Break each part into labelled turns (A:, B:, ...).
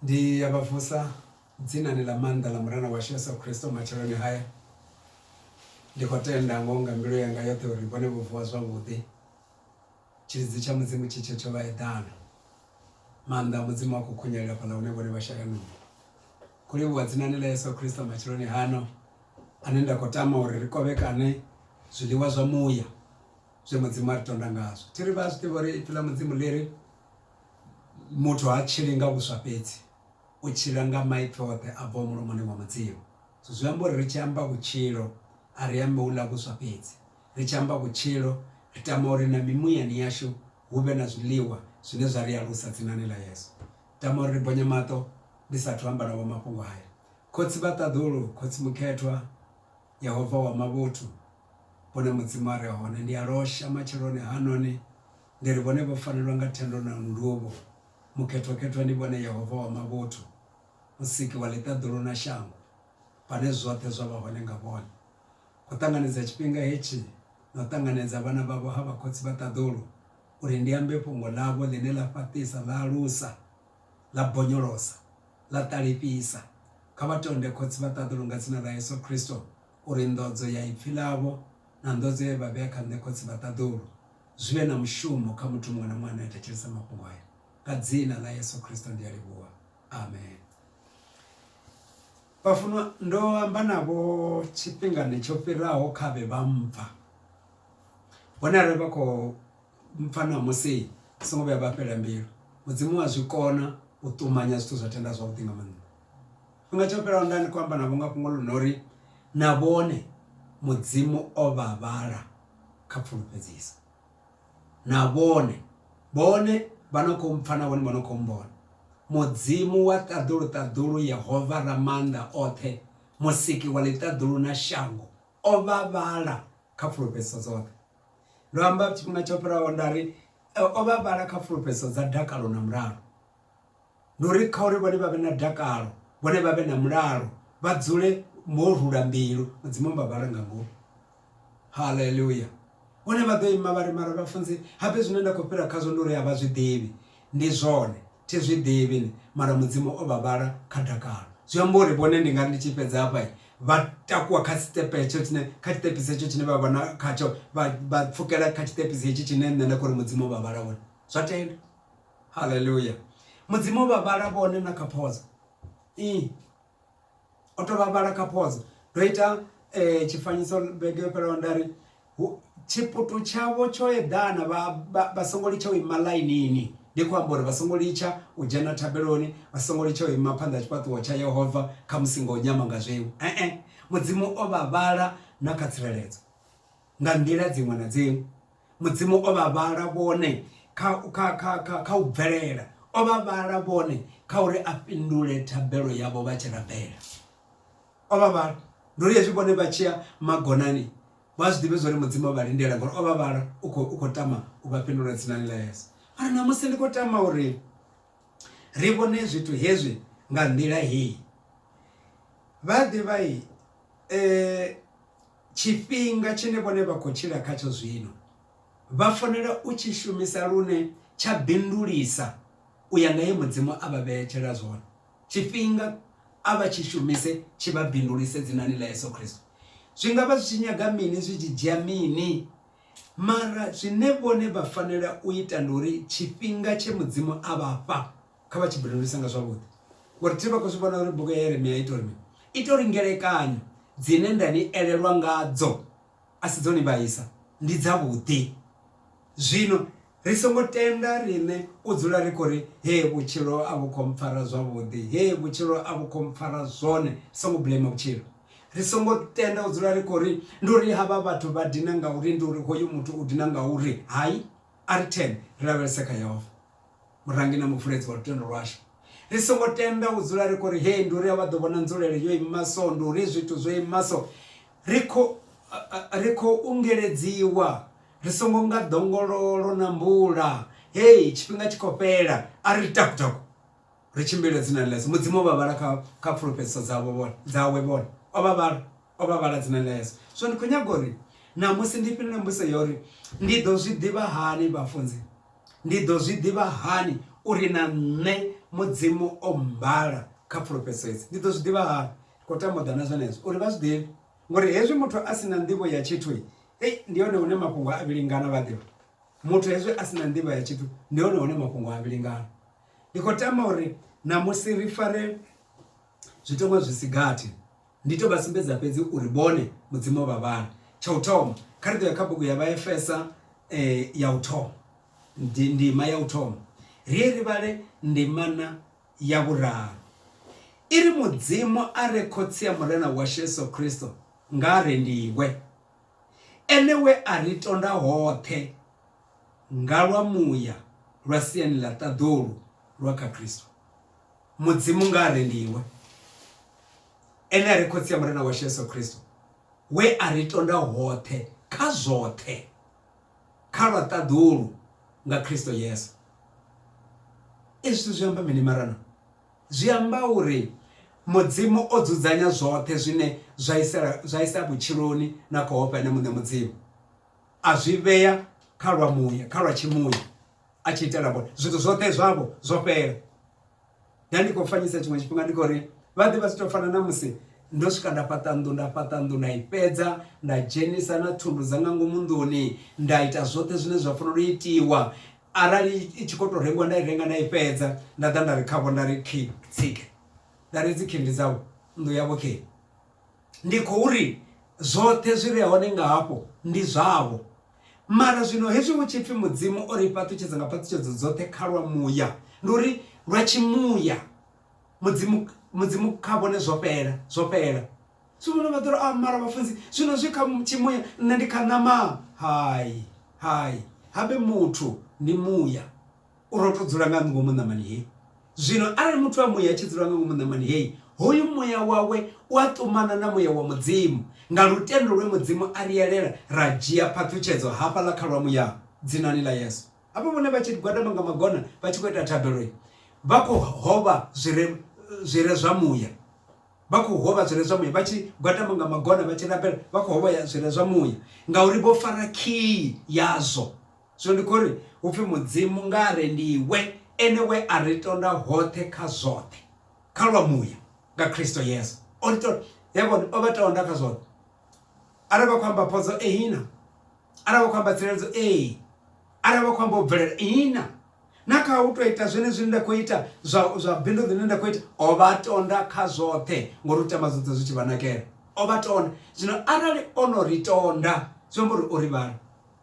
A: Ndi ya vha vusa dzinani ḽa maanḓa ḽa Murena washu Yesu Kristo matsheloni haya. Ndi khou tenda ngo nga mbilu yanga yoṱhe uri vhone vho vuwa zwavhuḓi. Tshilidzi tsha Mudzimu tshi tshe tsho vha eḓana. Maanḓa a Mudzimu a khou khunyelela fhaḽa hune vhone vha shela nungo. Khou livhuwa dzinani ḽa Yesu Kristo matsheloni hano ane nda khou tama uri ri kovhekane zwiḽiwa zwa muya. zwe mudzimu a ri tonda ngazwo thi ri vha a zwi ḓivha uri ipfi ḽa mudzimu ḽi ri muthu ha tshili nga vhuswa fhedzi u tshila nga maipfi oṱhe a bvaho mulomoni wa mudzimu so zwi amba uri ri tshi amba vhutshilo a ri ambi hula vhuswa fhedzi ri tshi amba vhutshilo ri tama uri na mimuyani yashu hu vhe na zwiḽiwa zwine zwa ri alusa dzinani ḽa yesu tama uri ri bonye maṱo ndi sathu amba navho mafhungo haya khotsi vha ṱaḓulu khotsi mukhethwa yehova wa mavhuthu hune Mudzimu a re hone. Ndi a losha matsheloni hanoni ndi ri, Vhone vho fanelwa nga thendo na nduvho, Mukhethwakhethwa ndi vhone Yehova wa mavhuthu, Musiki wa ḽiṱaḓulu na shango, Vhane zwoṱhe zwa vha hone nga vhone. Khou ṱanganedza tshifhinga hetshi na u ṱanganedza vhana vhavho ha vhakhotsi vha ṱaḓulu, Uri ndi ambe fhungo ḽavho ḽine ḽa fhaṱisa, ḽa alusa, ḽa bonyolosa, ḽa ṱalifhisa. Kha vha tonde khotsi vha ṱaḓulu nga dzina ḽa Yesu Khristo. uri nḓodzo ya ipfi ḽavho na nḓodzo ye vha vhea kha nṋe Khotsi vha ṱaḓulu, zwi vhe na mushumo kha muthu muṅwe na muṅwe ane a thetshelesa mafhungo aya. Nga Dzina ḽa Yesu Kristo ndi a livhuwa. Amen. Vhafunwa, ndo amba navho tshifhingani tsho fhiraho kha vhe vha mpfa. Hone arali vha khou mpfa na musi vha songo vhuya vha fhela mbilu mudzimu wa zwikona u ṱumanya zwithu zwa tenda zwavhuḓi nga maanḓa. Tshifhinga tsho fhelaho nda ndi khou amba navho nga fhungo ḽo no uri na vhone mudzimu o vha vhala kha pfulufhedziso na vhone vhone vha no kho mpfha na vhone vha no kho mmbona mudzimu wa ṱaḓulu ṱaḓulu yehova ra maanḓa oṱhe musiki wa ḽiṱaḓulu na shango o vha vhala kha pfulufhedziso dzoṱhe. Ndo amba tshifhinga tsho fhiraho nda ri o vha vhala kha fulufhedzo dza dakalo na mulalo ndi uri kha uri vhone vha vhe na dakalo vhone vha vhe na mulalo vha dzule mo rula mbilu mudzimu vha vhala nga ngomu haleluya vhone vha ḓo ima vha ri mara vhafunzi habe zwine nda khou fhira khazwo ndi uri a vha zwi ḓivhi ndi zwone Thi zwi ḓivhi nṋe, mara Mudzimu o vha vhala kha dakalo. Zwi amba uri vhone ndi nga ri ndi tshi fhedza hafha, vha takuwa kha tshiṱepe hetsho tshine, kha tshiṱepisi hetsho tshine vha vha na khatsho, vha, vha pfukela kha tshiṱepisi hetshi tshine nṋe nda khou ri Mudzimu o vha vhala hone. Zwa tenda. Haleluya! Mudzimu o vha vhala vhone na kha phodzo. Ii. o to vhavhala kha phodzo ndo ita eh, tshifanyiso vhege yo fhelaho nda ri tshiputu tshavho tsho eḓana vha songo litsha u ima ḽainini ndi khou amba uri vha songo litsha u dzhena thabeloni vha songo litsha u ima phanḓa tshifhaṱuwo tsha yehova kha musi ngo nyama nga zwiṅwe ee mudzimu o vha vhala na kha tsireledzo nga nḓila dziṅwe na dziṅwe mudzimu o vha vhala vhone kha kha kha kha kha u bvelela o vha vhala vhone kha uri a fhindule thabelo yavho vha tshi rabela o vha vhala ndo ri hezwi vhone vha tshiya magonani vha zwi ḓivhe zwori mudzimu o vha lindela ngori o vha vhala u khou u khou tama u vha fhindula dzinani ḽa yesu mara ṋamusi ndi khou tama uri ri vhone zwithu hezwi nga nḓila heyi vha ḓivha um eh, Tshifhinga tshine vhone vha khou tshila khatsho zwino vha fanela u tshi shumisa lune tsha bindulisa u ya nga he Mudzimu a vha vhetshela zwone. Tshifhinga a vha tshi shumise tshi vha bindulise dzinani ḽa Yesu Kristo. Zwi nga vha zwi tshi nyaga mini, zwi tshi dzhia mini, mara zwine vhone vha fanela u ita ndi uri tshifhinga tshe Mudzimu a vha fha Kha vha tshi buleluse nga zwavhuḓi ngori thi vha khou zwi vhona uri bugu ya Yeremia ita uri mini ita uri ngelekanyo dzine nda ni elelwa ngadzo a si dzo ni vhaisa ndi dzavhuḓi zwino ri songo tenda riṋe u dzula ri khou ri he vhutshilo a vhu khou mpfara zwavhuḓi he vhutshilo a vhu khou mpfara zwone songo blame vhutshilo ri songo tenda u dzula ri khou ri ndi uri havha vhathu vha dina ngauri ndi uri hoyu muthu u dina ngauri hai a ri thene ri lavhelese kha yehova Murangi na Muvuledzi wa lutendo lwashu. Ri songo tenda u dzula ri khou ri, Hee, ndi uri a vha ḓo vhona nzulele yo ima so, ndi uri zwithu zwo ima so. Ri khou, ri khou ungeledziwa, ri songo nga ḓongololo na mvula, Hee, tshifhinga tshi khou fhela. A ri taku-taku, ri tshimbile dzinani ḽa Yesu. Mudzimu o vha vhala kha, kha fulufhedziso dzavho vhone, dzawe vhone. O vha vhala. O vha vhala dzina ḽa Yesu. Zwino ndi khou nyaga uri ṋamusi ndi fhindule mbudziso ya uri ndi ḓo zwi ḓivha hani vhafunzi? Ndi ḓo zwi ḓivha hani uri na nṋe Mudzimu o mmbala kha pfulufhedziso hedzi? Ndi ḓo zwi ḓivha hani? Ndi khou tama u ḓa na zwenezwo uri vha zwi ḓivhe. Ngori hezwi muthu a si na nḓivho ya tshithu, ei ndi hone hune mafhungo a vhilingana vha ḓivha. Muthu hezwi a si na nḓivho ya tshithu ndi hone hune mafhungo a vhilingana. Ndi khou tama uri ṋamusi ri fare zwitengo zwi si gathi Ndi tou vha sumbedza fhedzi uri vhone Mudzimu o vha vhana. Tsha u thoma, kha ri ḓo ya kha bugu ya Vhaefesa ya u thoma, ndima ya u thoma, ri ye ri vhale ndimana ya vhuraru. I ri, Mudzimu a re Khotsi a Murena washu Yesu Kristo nga a rendiwe, ene we a ri tonda hoṱhe nga lwa muya lwa siani ḽa ṱaḓulu lwa kha Kristo. Mudzimu nga a re ndi iwe, ene a re Khotsi ya Murena washu Yesu Kristo, we a ri tonda hoṱhe kha zwoṱhe kha lwa ṱaḓulu nga Kristo Yesu. Ezwi zwithu zwi amba mini marana? Zwi amba uri Mudzimu o dzudzanya zwoṱhe zwine zwa isa zwa isa vhutshiloni na khou ofha ene muṋe Mudzimu, a zwi vhea kha lwa muya, kha lwa tshimuya. a tshi itela vhone zwithu zwoṱhe zwavho zwo fhela nda ndi khou fanyisa tshiṅwe tshifhinga ndi khou ri vha ḓi vha zwi tou fana na musi ndo swika nda fhaṱa nnḓu nda fhaṱa nnḓu nda i fhedza nda dzhenisa na thundu dza nga ngomu nḓuni nda ita zwoṱhe zwine zwa fanela u itiwa arali i tshi khou tou rengiwa nda i renga nda i fhedza nda ḓa nda ri khavho nda ri khi tsike nda ri dzi khindi dzavho nnḓu yavho khi ndi khou ri zwoṱhe zwi re hone nga hafho ndi zwavho Mara zwino hezwi hu tshi pfi Mudzimu o ri fhaṱutshedza nga phaṱhutshedzo dzoṱhe kha lwa muya, ndi uri lwa tshimuya, Mudzimu, Mudzimu kha vhone zwo fhela, zwo fhela. Zwi vhona vha ḓo ri, ah, mara vhafunzi, zwino zwi kha tshimuya, nṋe ndi kha ṋama. Hai, hai, habe muthu, ndi muya. U rotho dzula nga ngomu ṋamani heyi. Zwino arali muthu a muya a tshi dzula nga ngomu ṋamani heyi, hoyu muya wawe u a ṱumana na muya wa Mudzimu, nga lutendo lwe Mudzimu a ri elela ra dzhia phaṱhutshedzo hafhaḽa kha lwa muya, Dzinani ḽa Yesu. Hafha vhone vha tshi gwadama nga magona vha tshi khou ita thabelo, vha khou hovha zwi re zwi re zwa muya, vha khou hovha zwi re zwa muya, vha tshi gwadama nga magona vha tshi rabela vha khou hovha zwi re zwa muya, ngauri vho fara khiyi yazwo. Zwino ndi khou ri, hu pfi Mudzimu nga a re ndi iwe, ene we a ri tonda hoṱhe kha zwoṱhe, kha lwa muya, nga Kristo Yesu. O ri tonda, yavhona, o vha tonda kha zwoṱhe. Arali vha khou amba phodzo, ihina. Arali vha khou amba tsireledzo, ee. Arali vha khou amba u bvelela, ihina. Na kha u tou ita zwenezwi nda khou ita, zwa, zwa bindu ḽine nda khou ita, o vha tonda kha zwoṱhe, ngori u tama zwoṱhe zwi tshi vha nakela. O vha tonda. Zwino arali o no ri tonda, zwi amba uri o ri vhala.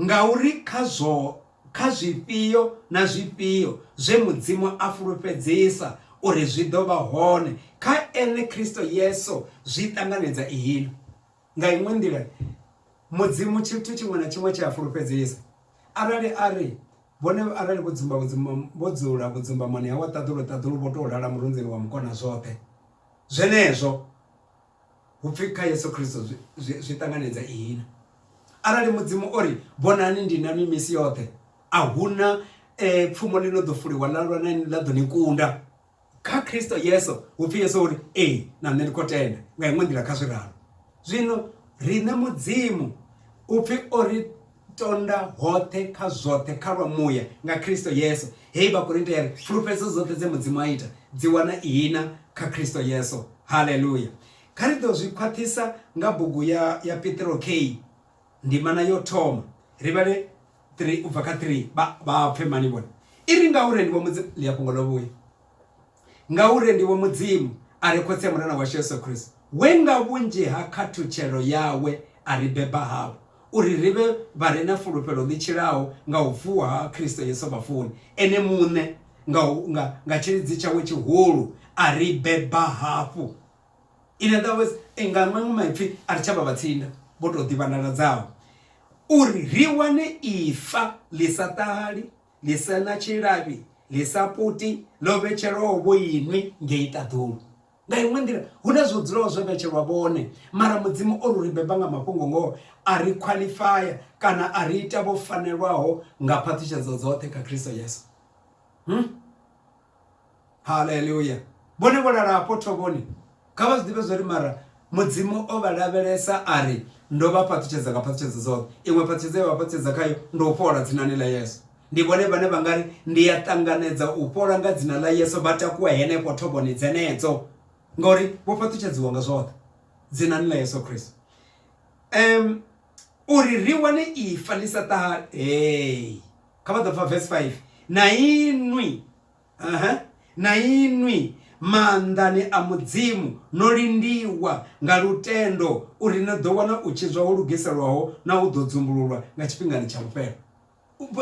A: Ngauri kha zwo kha zwifhio na zwifhio zwe Mudzimu a fulufhedzisa uri zwi ḓo vha hone, kha Ene Kristo Yesu zwi ṱanganedza iḽo. Nga iṅwe nḓila, Mudzimu tshithu tshiṅwe na tshiṅwe tshe a fulufhedzisa, arali a ri, Vhone arali vho dzumba vhudzumba, vho dzula vhudzumbamoni ha wa ṱaḓulu ṱaḓulu vho tou lala murunzini wa mukonazwoṱhe, zwenezwo Hu pfi kha Yesu Kristo zwi ṱanganedza ihina. Arali Mudzimu o ri, Vhonani ndi na nwi misi yoṱhe, a hu na eh, pfumo ḽi no ḓo fuliwa ḽa lwa na ḽa ḓo ni kunda. Kha Kristo Yesu, hu pfi Yesu o ri, Ee, na nṋe ndi khou tenda, nga iṅwe nḓila kha zwi ralo. Zwino riṋe Mudzimu u pfi o ri Tonda hoṱhe kha zwoṱhe kha lwa muya nga Kristo Yesu. Hei Vhakorinte ya ri, Fulufhedzo dzoṱhe dze Mudzimu a ita, dzi wana ihina kha Kristo Yesu. Haleluya! Kha ri ḓo zwi khwaṱhisa nga bugu ya, ya Petro kheyi ndimana yo thoma. Ri vhale 3 u bva kha 3, vha, vha pfe mani vhone? I ri, Ngauri ni vha Mudzimu, ḽi a fhungo ḽo vhuya. Ngauri ndivho Mudzimu a re Khotsi ya Murena washu Yesu Kristo, we nga vhunzhi ha khathutshelo yawe a ri beba havho, uri ri vhe vha re na fulufhelo ḽi tshilaho nga u vuwa ha Kristo Yesu vhafuni. Ene muṋe nga, nga, nga tshilidzi tshawe tshihulu a ri beba hafhu. In other words, eh, nga maṅwe maipfi a ri tsha vha vhatsinda vho tou ḓivhandaladzaho, uri ri wane ifa ḽi sa ṱahali, ḽi sa na tshilavhi ḽi sa puti ḽo vhetshelwaho vho inwi ngei ṱaḓulu nga iṅwe nḓila hu na zwo dzulaho zwo vhetshelwa vhone mara mudzimu o lu ri beba nga mafhungo ngoho a ri khwaḽifaya kana a ri ita vho fanelwaho nga phaṱhutshedzo dzoṱhe kha khristo yesu hmm? haleluya vhone vho lala hafho thovhoni kha vha zwi ḓivhe zwori mara mudzimu o vha lavhelesa a ri ndo vha fhaṱutshedza nga fhaṱutshedzo dzoṱhe iṅwe fhaṱutshedzo ye vha fhaṱutshedza khayo ndo u fhola dzinani ḽa yesu ndi vhone vhane vha nga ri ndi a ṱanganedza u fhola nga dzina ḽa yesu vha takuwa henefho thovhoni dzenedzo ngauri vho fhaṱutshedziwa nga zwoṱhe dzinani ḽa yesu khristu um uri ri wane ifa ḽi sa ṱahale hey. kha vha ḓo pfa verse 5 na inwi Ehe, na inwi maanḓani a Mudzimu no lindiwa nga lutendo, uri ni ḓo wana u tshidzwa ho lugiselwaho na u ḓo dzumbululwa nga tshifhingani tsha vhufhelo.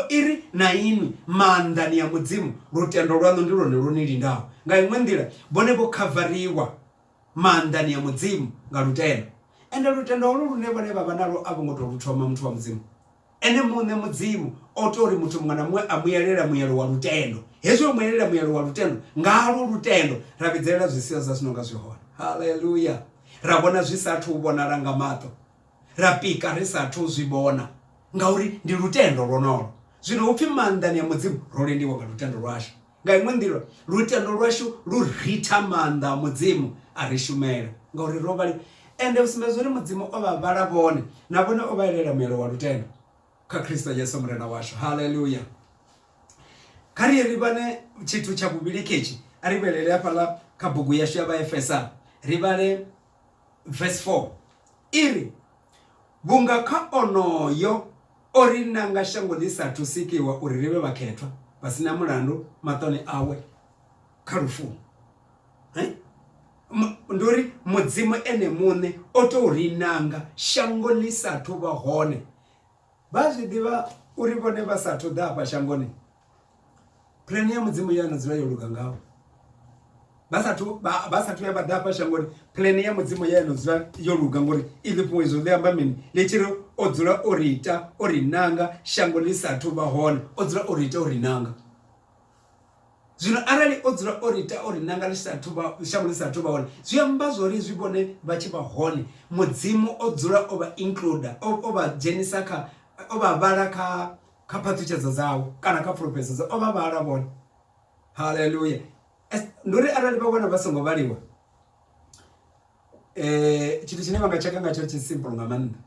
A: I ri, na inwi maanḓani a Mudzimu, lutendo lwaṋu ndi lwone lwo ni lindaho. Nga iṅwe nḓila, vhone vho khavariwa maanḓani a Mudzimu nga lutendo. Ende lutendo holwo lune vhone vha vha nalwo a vho ngo tou lu thoma, muthu wa Mudzimu. Ene muṋe Mudzimu o tou ri muthu muṅwe na muṅwe a muyelela muyelo wa lutendo. Hezwi o muyelela muyelo wa lutendo, ngalwo lutendo ra vhidzelela zwisiyo zwa zwino nga zwi hone. Haleluya! Ra vhona zwi sa athu u vhonala nga maṱo, ra pika ri sa athu u zwi vhona, ngauri ndi lutendo lwonolo. Zwino hu pfi maanḓani a Mudzimu ro lendiwa nga lutendo lwashu. Nga iṅwe nḓila, lutendo lwashu lu ritha maanḓa a Mudzimu a ri shumela, ngauri ro vha. Ende u sumbedza uri Mudzimu o vha vhala vhone, na vhone o vha elela muelo wa lutendo kha Kristo Yesu Murena washu. Haleluya! Kha ri ye ri vhane tshithu tsha vhuvhili ketshi, a ri vhelele hafhaḽa kha bugu yashu ya Vhaefesa, ri vhale verse 4 i ri, Vhunga kha onoyo O ri nanga shango ḽi sa athu sikiwa uri ri vhe vhakhethwa vha si na mulandu maṱoni awe kha lufuni. Ndi uri mudzimu ene muṋe o tou ri nanga shango ḽi sa athu vha hone. Vha zwi ḓivha uri vhone vha sa athu ḓa afha shangoni Plan ya mudzimu ya no dzula yo luga ngaho vha sathu vha sathu ya vha ḓa fha shangoni plan ya mudzimu ya no dzula yo luga ngori i ḽifhiwe izwo ḽi amba mini ḽi tshi ri o dzula o ri ita o ri nanga shango ḽi sathu vha hone o dzula o ri ita o ri nanga zwino arali o dzula o ri ita o ri nanga ḽi sathu vha shango ḽi sathu vha hone zwi amba zwori zwi vhone vha tshi vha hone mudzimu o dzula o vha include o vha dzhenisa kha o vha vhala kha kha phaṱhutshedzo dzawe kana kha fulufhedzo dza o vha vhala vhone haleluya ndi uri arali vha vhona vha songo vhaliwa um tshithu tshine vha nga tsheka ngatsho tshi simple nga maanḓa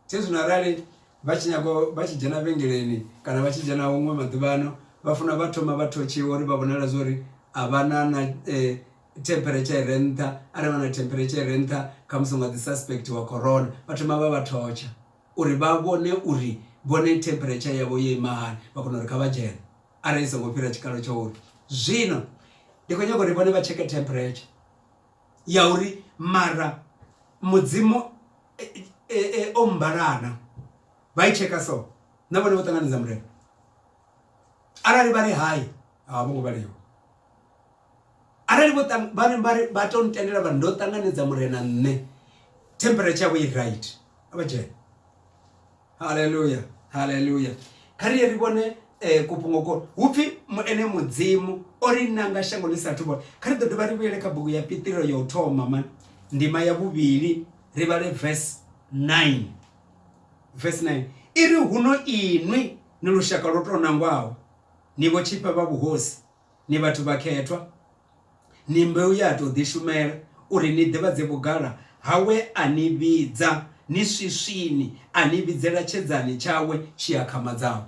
A: tshe zwino arali vha tshi nyaga vha tshi dzhena vhengeleni kana vha tshi dzhena huṅwe maḓuvhano vha funa vha thoma vha thotshiwa uri vha vhonala zwa uri a vha na na um temperature i re nṱha arali vha na temperature i re nṱha khamusi u nga ḓi suspectiwa corona vha thoma vha vha thotsha uri vha vhone uri vhone temperature yavho yo ima hani vha kona uri kha vha dzhene arali i songo fhira tshikalo tsha uri zwino ndi khou nyaga uri vhone vha tsheke temperature ya uri mara mudzimu e, e, e, o mbalana vha i tsheka so na vhone vho ṱanganedza murena arali vha ri hai a vho ngo vhaliwa arali vho vhari vhari vha to ntendela vha ndo ṱanganedza murena nṋe temperature yavho i right a vha dzhena haleluya haleluya kha ri ye ri vhone um kufhungoko hu pfi ene mudzimu o ri nanga shango ḽi sathu vhona kha ri ḓo dovha ri vhuyele kha bugu ya piṱiro ya u thoma mani ndima ya vhuvhili ri vhale verse 9 verse 9 i ri huno inwi ni lushaka lwo tou nangwaho ni vho tshifha vha vhuhosi Ni vhathu vhakhethwa, ni mbeu ye a tou ḓishumela, uri ni ḓivhadze vhugala ha we a ni vhidza ni swiswini, a ni vhidzela tshedzani tshawe tshi akhamadzaho.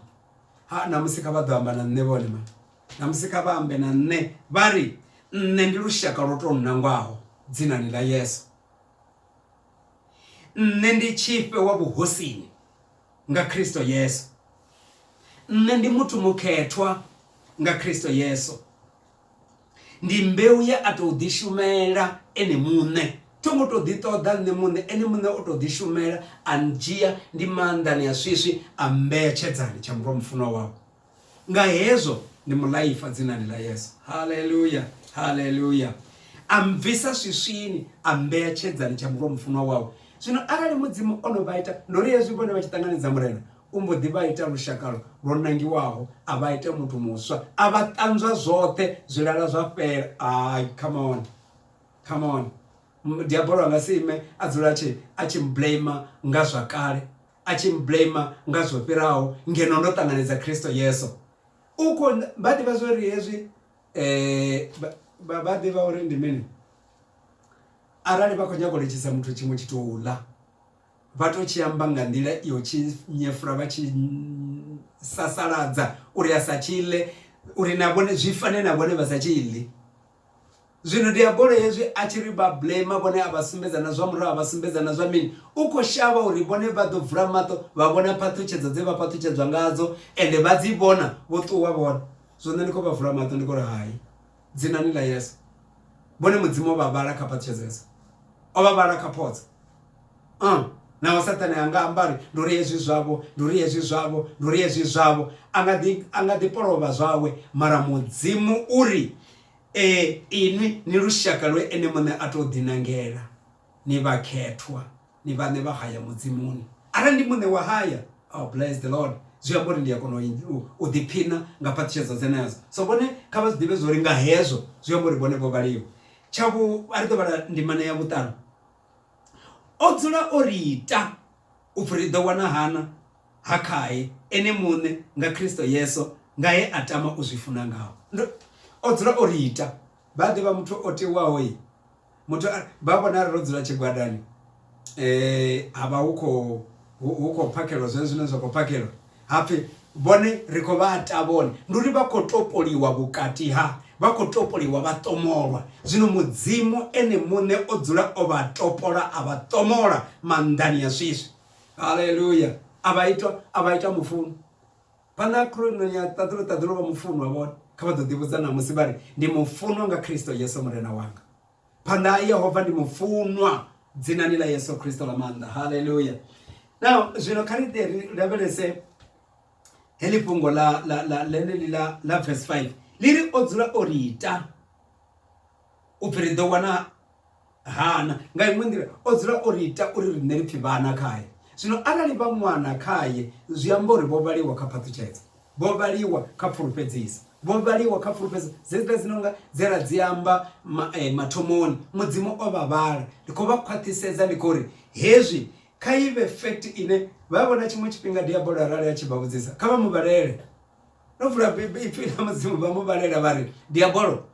A: Ha, ṋamusi kha vha ḓo amba na nṋe vhone vhaṋe, ṋamusi kha vha ambe na nṋe vha ri, Nṋe ndi lushaka lwo tou nangwaho dzinani ḽa Yesu. Nṋe ndi tshifhe wa vhuhosini. nga Kristo Yesu. Nṋe ndi muthu mukhethwa nga Kristo Yesu. Ndi mbeu ye a tou ḓishumela ene muṋe. Tho ngo tou ḓiṱoḓa nṋe muṋe, ene muṋe o tou ḓishumela a ndzhia ndi maanḓani a swiswi a mmbea tshedzani tsha murwa mufunwa wawe. nga hezwo ndi mulaifa dzinani ḽa yesu haleluya haleluya a mbvisa swiswini a mbeya tshedzani tsha murwa mufunwa wawe zwino arali mudzimu o no vha ita ndo ri hezwi vhone vha tshi ṱanganedza murena u mbo ḓi vha ita lushakalo lwo nangiwaho a vha ita muthu muswa a vha ṱanzwa zwoṱhe zwilala zwa fhela ai come on come on diabolo anga si ime a dzula tshi a tshi blame nga zwa kale a tshi mblamer nga zwo fhiraho ngeno ndo ṱanganedza Kristo Yesu. U khou nda, vha ḓivha zwo ri hezwi, vha vha ḓivha uri ndi mini? Arali vha khou nyaga u litshisa muthu tshiṅwe tshithu u ḽa, vha tou tshi amba nga nḓila yo tshi nyefula vha tshi sasaladza uri a sa tshi ḽe uri na vhone zwi fane na vhone vha sa tshi ḽi. Zwino diabolo hezwi a tshi ri vha blema vhone a vha sumbedza na zwa murahu a vha sumbedza na zwa mini, u khou shavha uri vhone vha ḓo vula maṱo vha vhona phaṱhutshedzo dze vha phaṱhutshedzwa ngadzo ende vha dzi vhona vho ṱuwa vhone. Zwino ndi khou vha vula maṱo ndi khou ri hai, dzinani ḽa Yesu. Vhone Mudzimu o vha vhala kha phaṱhutshedzo hedzo, o vha vhala kha photsa. Uh, naho saṱhane a nga amba ri ndi uri hezwi zwavho ndi uri hezwi zwavho ndi uri hezwi zwavho a nga ḓi a nga ḓi polovha zwawe mara mudzimu uri e inwi ni lushaka lwe ene muṋe a tou ḓinangela ni vhakhethwa ni vhaṋe vha haya mudzimuni arali ndi muṋe wa haya oh, bless the lord zwi amba uri ndi a kona u ḓiphina nga phaṱhutshedzo dzenedzo so vhone kha vha zwi ḓivhe zwo ri nga hezwo zwi amba uri vhone vho vhaliwa tsha vhu a ri ḓo vhala ndimana ya vhuṱanu o dzula o ri ita u pfi ri ḓo wana hana ha khae ene muṋe nga Kristo Yesu nga he a tama u zwi funa ngaho o dzula o ri ita vha ḓivha muthu o tewaho yi muthu vha vhona ro dzula tshigwadani eh ha vha hu khou hu khou phakhelwa zwone zwine zwa khou phakhelwa Ha pfi, Vhone ri khou vha ata vhone. Ndi uri vha khou topoliwa vhukati ha, vha khou topoliwa, vha ṱomolwa. Zwino Mudzimu Ene muṋe o dzula o vha topola, a vha ṱomola maanḓani a swiswi. Haleluya! A vha ita, a vha ita mufunwa. Phanḓa ha khuluṋoni ya ṱaḓulu, ṱaḓulu vha mufunwa vhone. Kha vha ḓo ḓivhudza ṋamusi vha ri, Ndi mufunwa nga Kristo Yesu Murena wanga. phanḓa ha yehova ndi mufunwa dzinani ḽa yesu kristo ḽa maanḓa halleluya now zwino kha ri ri lavhelese heḽi fhungo ḽa ḽeneḽi ḽa ḽa verse 5 ḽi ri o dzula o ri ita u pfhi ri ḓo wana hana nga iṅwe nḓila o dzula o ri ita uri riṋe ri pfhi vhana khaye zwino arali vha ṅwana khaye zwi amba uri vho vhaliwa kha phaṱhutshedzo Vho vhaliwa kha pfulufhedzisa. Vho vhaliwa kha pfulufhedzisa. Dzedziḽa dzi no nga dze ra dzi amba mathomoni. Mudzimu o vha vhala. Ndi khou vha khwaṱhisedza ndi khou ri, hezwi kha i vhe fact ine vha vhona tshiṅwe tshifhinga Diabolo arali a tshi vha vhudzisa, kha vha mu vhalele. No vula Ipfi ḽa Mudzimu vha mu vhalela vha ri, Diabolo,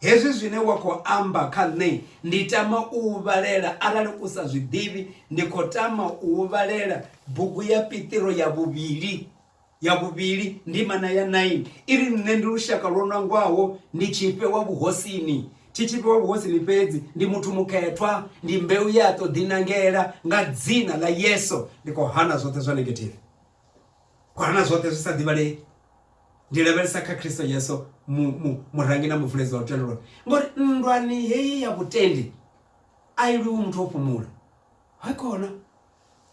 A: hezwi zwine wa khou amba kha nṋe ndi tama u u vhalela, arali u sa zwi ḓivhi, ndi khou tama u u vhalela bugu ya Piṱiro ya vhuvhili. Ya vhuvhili, ndimana ya 9 i ri, Nṋe ndi lushaka lwo nangwaho, ndi tshifhe wa vhuhosini. Thi tshifhe wa vhuhosini fhedzi, ndi muthu mukhethwa, ndi mbeu ye a tou ḓinangela. Nga dzina ḽa Yesu ndi khou hana zwoṱhe zwa negative, khou hana zwoṱhe zwi sa ḓivhalei. Ndi lavhelesa kha Kristo Yesu, murangi na muvuledzi wa lutendo lwanga. Ngori nndwani heyi ya vhutendi a i lwiwi muthu o fhumula. Hakhona.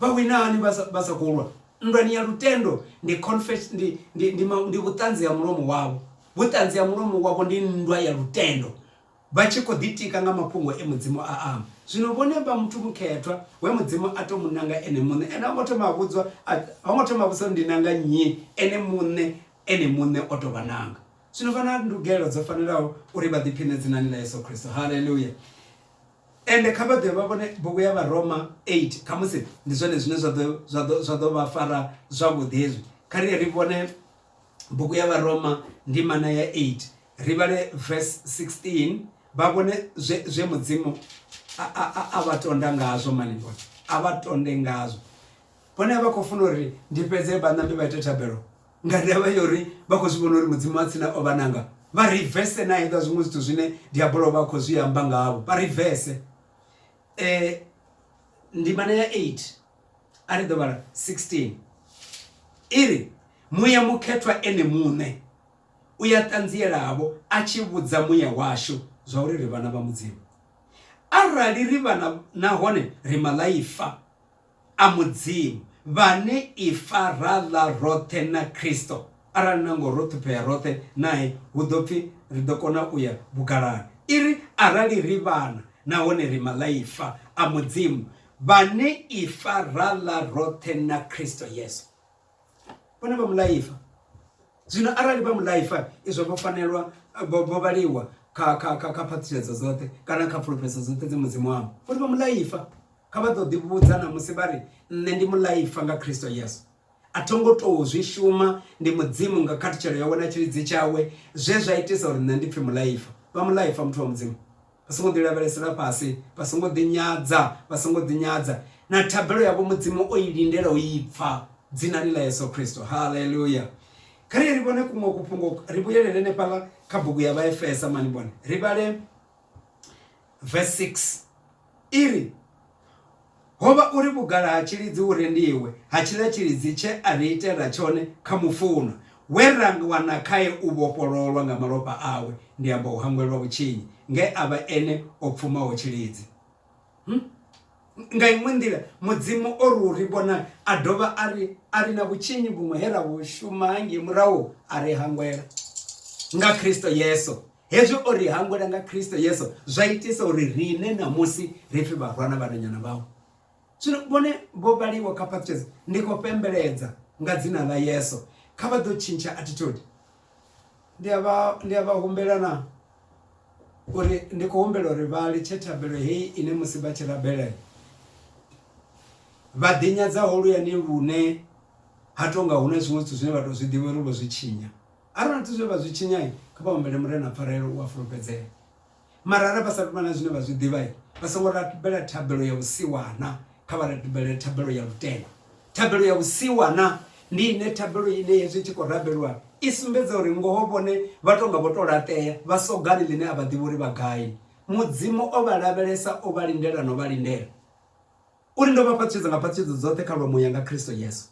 A: vha wina hani vha sa- vha sa khou lwa nndwani ya lutendo ndi confess ndi ndi ndi, ma- ndi vhuṱanzi ha mulomo wavho vhuṱanzi ha mulomo wavho ndi nndwa ya lutendo vha tshi khou ḓitika nga mafhungo e mudzimu a amba zwino vhone vha muthu mukhethwa we mudzimu a tou mu nanga ene muṋe ene ho ngo thoma a vhudzwa a- ho ngo thoma a vhudzwa uri ndi nanga nnyi ene muṋe ene muṋe o tou vha nanga zwino vha na ndugelo dzo fanelaho uri vha ḓiphiṋe dzinani ḽa yesu kristo haleluya Ende kha vha dovhe vha vhone bugu ya Vharoma 8 khamusi ndi zwone zwine zwa ḓo zwa ḓo zwa ḓo vha fara zwavhuḓi hezwi kha ri ri vhone bugu ya Vharoma ndimana ya 8 ri vhale verse 16 vha vhone zwe zwe mudzimu a vha tonda ngazwo mani vhone a vha tonde ngazwo vhone vha khou funa uri ndi fhedze vhanambe vha ite thabelo nga ndavha ya uri vha khou zwi vhona uri mudzimu wa tsina o vha nanga vha rivese na hezwa zwiṅwe zwithu zwine diabolo vha khou zwi amba ngavho vha rivese um eh, ndimana ya 8 a ri ḓo vhala 16 i ri muya mukhethwa ene muṋe u ya ṱanzielavo a tshi vhudza muya washu zwa uri ri vhana vha mudzimu arali ri vhana nahone ri malaifa a Mudzimu, vhane ifa ra ḽa roṱhe na Kristo, arali na ngoho ro ṱhuphea roṱhe nae, hu ḓo pfi ri ḓo kona u ya vhugalani. I ri, Arali ri vhana nahone ri maḽaifa a Mudzimu, vhane ifa ra ḽa roṱhe na Kristo Yesu. vhone vha mulaifa zwino arali vha mulaifa izwo vho fanelwa vho vhaliwa kha kha kha kha phaṱhutshedzo dzoṱhe kana kha pfulufhedzo dzoṱhe dzi mudzimu wavho vhone vha mulaifa kha vha ḓo ḓivhudza na musi vha ri nṋe ndi mulaifa nga khristo yesu a tho ngo tou zwi shuma ndi mudzimu nga khathutshelo yawe na tshilidzi tshawe zwe zwa itisa uri nṋe ndi pfhi mulaifa vha mulaifa muthu wa mudzimu Vha songo ḓi lavhelesela fhasi, vha songo ḓi nyadza, vha songo ḓi nyadza. Na thabelo yavho Mudzimu o i lindela u i pfa, dzinani ḽa Yesu Kristo. Haleluya! Kha ri ye ri vhone kuṅwe kufhungo, ri vhuyelele henefhaḽa kha bugu ya Vhaefesa mani vhone, ri vhale verse 6 i ri, ho vha uri vhugala ha tshilidzi hu rendiwe ha tshiḽa tshilidzi tshe a ri itela tshone kha mufunwa, we ra wana khae u vhofhololwa nga malofha awe, ndi amba u hangwelwa vhutshinyi, nge a vha ene o pfumaho tshilidzi. Nga iṅwe nḓila, Mudzimu o ri u ri vhona a dovha a ri a ri na vhutshinyi vhuṅwe he ra vhu shuma hangei murahu a ri hangwela. Nga Kristo Yesu, hezwi o ri hangwela nga kristo yesu zwa itisa uri riṋe ṋamusi ri pfi vharwana vhananyana vhawe zwino vhone vho vhaliwa kha pastures ndi khou pembeledza nga dzina ḽa yesu kha vha ḓo tshintsha attitude ndi a vha ndi a vha humbela na uri ndi khou humbela uri vha litshe thabelo heyi ine musi vha tshi rabelela vha ḓinyadza holuyani lune ha tonga hu na zwiṅwe zwithu zwine vha tou zwi ḓivha uri vho zwi tshinya Arali zwithu zwe vha zwi tshinya, kha vha humbele Murena pfarelo u a fulufhedzea. Mara arali vha sa tou vha na zwine vha zwi ḓivha, vha songo rabela thabelo ya vhusiwana, kha vha rabele thabelo ya lutendo. Thabelo ya vhusiwana ndi ine thabelo ine hezwi i tshi khou rabelwa i sumbedza uri ngoho vhone vha tou nga vho tou laṱea, vha sogani ḽine a vha ḓivhi uri vha gai. Mudzimu o vha lavhelesa, o vha lindela na u vha lindela. U ri, Ndo vha fhaṱutshedza nga phaṱutshedza dzoṱhe kha lwa Muya nga Kristo Yesu.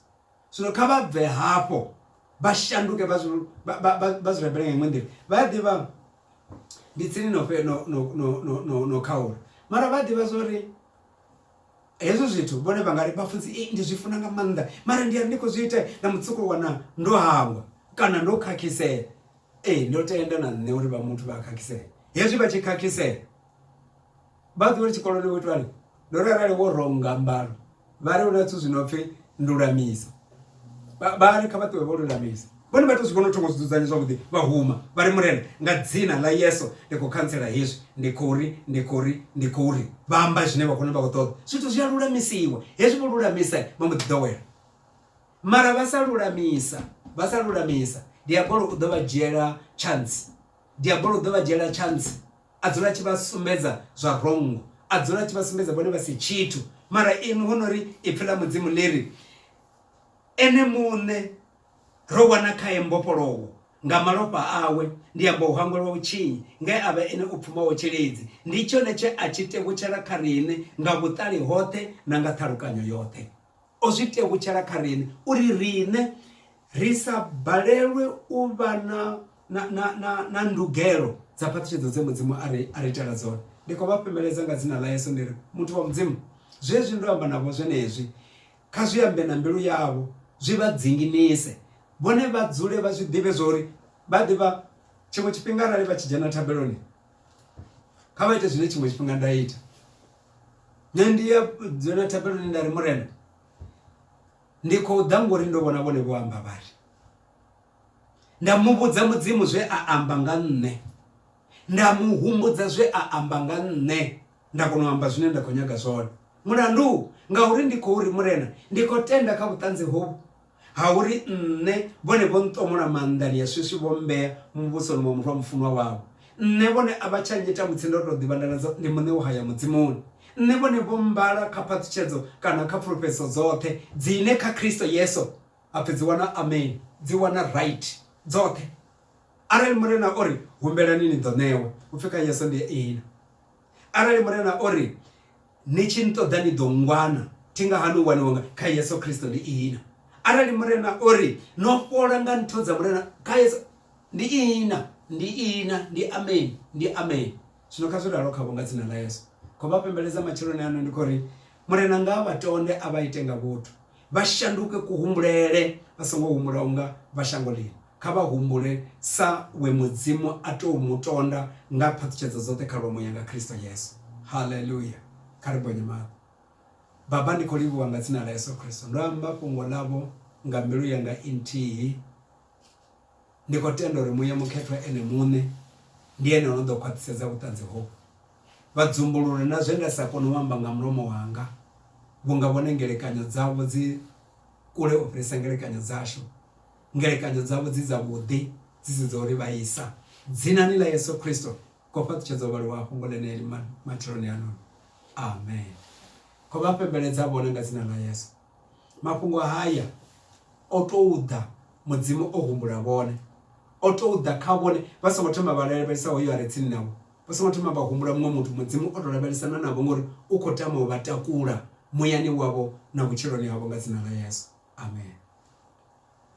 A: Zwino kha vha bve hafho vha shanduke vha zwi, vha, vha, vha, vha zwi rabele nga iṅwe nḓila. Vha a ḓivha ndi tsini no, fhe, no, no, no, no, no, no khaula. Mara vha a ḓivha zwa uri hezwo zwithu vhone vha nga ri, Vhafunzi, ei, ndi zwi funa nga maanḓa, mara ndi a ri ndi khou zwi ita na mutsiko wana ndo hangwa kana ndo khakhisea. Ee, ndo tenda na nṋe uri vha muthu vha a khakhisea. Hezwi vha tshi khakhisea, vha a ḓivha uri tshikoloni ho itwani? Ndo ri arali wo ronga mbalo vha ri hu na zwithu zwi no pfhi ndulamiso vha ri kha vha ṱuwe vho lulamisa vhone vha tou zwi vhona u thoma u zwi dzudzanya zwavhuḓi vha huma vha ri murena nga dzina ḽa yeso ndi khou khantsela hezwi ndi khou ri ndi khou ri ndi khou ri vha amba zwine vha khou vha khou ṱoḓa zwithu zwi a lulamisiwa hezwi vho lulamisa vha mbo ḓi ḓowela mara vha sa lulamisa vha sa lulamisa diabolo u ḓo vha dzhiela chance diabolo u ḓo vha dzhiela chance A dzula a tshi vha sumbedza zwa vhongo. A dzula a tshi vha sumbedza vhone vha si tshithu. Mara inwi ho no ri Ipfi ḽa Mudzimu ḽi ri, Ene muṋe ro wana khae mbofholowo, nga malofha awe, ndi amba u hangwelwa vhutshinyi, nge a vha ene o pfumaho tshilidzi. Ndi tshone tshe a tshi tevhutshela kha riṋe nga vhuṱali hoṱhe na nga ṱhalukanyo yoṱhe. O zwi tevhutshela kha riṋe uri riṋe ri sa balelwe u vha na na na na na ndugelo dza phaṱhutshedzo dze mudzimu a ri a ri itela dzone ndi khou vha fhemeledza nga dzina ḽa yesu ndi ri muthu wa mudzimu zwezwi ndo amba navho zwenezwi kha zwi ambe na mbilu yavho zwi vha dzinginise vhone vha dzule vha zwi ḓivhe zwa uri vha ḓivha tshiṅwe tshifhinga arali vha tshi dzhena thabeloni kha vha ite zwine tshiṅwe tshifhinga nda ita nṋe ndi ya dzula thapeloni nda ri murena ndi khou ḓa ngori ndo vhona vhone vho amba vhari nda mu vhudza mudzimu zwe a amba nga nṋe nda mu humbudza zwe a amba nga nṋe nda kona u amba zwine nda khou nyaga zwone mulandu ngauri ndi khou ri murena ndi khou tenda kha vhuṱanzi hovhu Ha uri nṋe, vhone vho nṱomola maanḓani ya swiswi vho mmbea muvhusoni wa murwa mufunwa wavho. Nṋe, vhone a vha tsha nnyita mutsi ndo tou ḓivha nda ḽa ndi muṋe wo haya Mudzimuni. Nṋe, vhone vho mmbala kha phaṱhutshedzo kana kha pfulufhedziso dzoṱhe dzine kha Kristo Yesu ha pfi dzi wana amen, dzi wana right, dzoṱhe. Arali Murena o ri, Humbelani ni ḓo ṋewa, hu pfi kha Yesu ndi Iina. Arali Murena o ri, Ni tshi nṱoḓa ni ḓo nngwana, thi nga hani u waniwa nga kha Yesu Kristo ndi ihina? Arali Murena o ri, No fhola nga ntho dza Murena kha Yesu ndi ihina, ndi ihina, ndi ameni, ndi ameni. Zwino kha zwi ralo khavho nga dzina ḽa Yesu. Khou vha pembeledza matsheloni ano ndi khou ri, Murena nga a vha tonde a vha ite nga vhuthu, vha shanduke kuhumbulele, vha songo humbula unga vha shango ḽino. Kha vha humbule sa we Mudzimu a tou mu tonda nga phaṱhutshedzo dzoṱhe khalomo yanga Kristo Yesu. Haleluya! Kha ri bonye maṱo. Baba, ndi khou livhuwa nga dzina ḽa Yesu Kristo. Ndo amba fhungo ḽavho nga mbilu yanga i nthihi. Ndi khou tenda uri Muya Mukhethwa Ene Muṋe ndi Ene o no ḓo khwaṱhisedza vhuṱanzi hovhu. Vha dzumbulule na zwe nda sa koni u amba nga mulomo wanga, vhunga vhone ngelekanyo dzavho dzi kule u fhirisa ngelekanyo dzashu, ngelekanyo dzavho dzi dzavhuḓi, dzi si dza u ri vhaisa. Dzinani ḽa Yesu Kristo, ko fhaṱutshedza u vhaliwa ha fhungo ḽeneḽi matsheloni ano. Amen. Khou vha fhembeledza vhone nga Dzina ḽa Yesu. Mafhungo haya o tou ḓa Mudzimu o humbula vhone, o tou ḓa kha vhone vha songo thoma vha lavhelesa hoyo a re tsini navho, vha songo thoma vha humbula muṅwe muthu. Mudzimu o tou lavhelesana navho ngori u khou tama u vha takula muyani wavho na vhutshiloni havho nga dzina ḽa Yesu. Amen.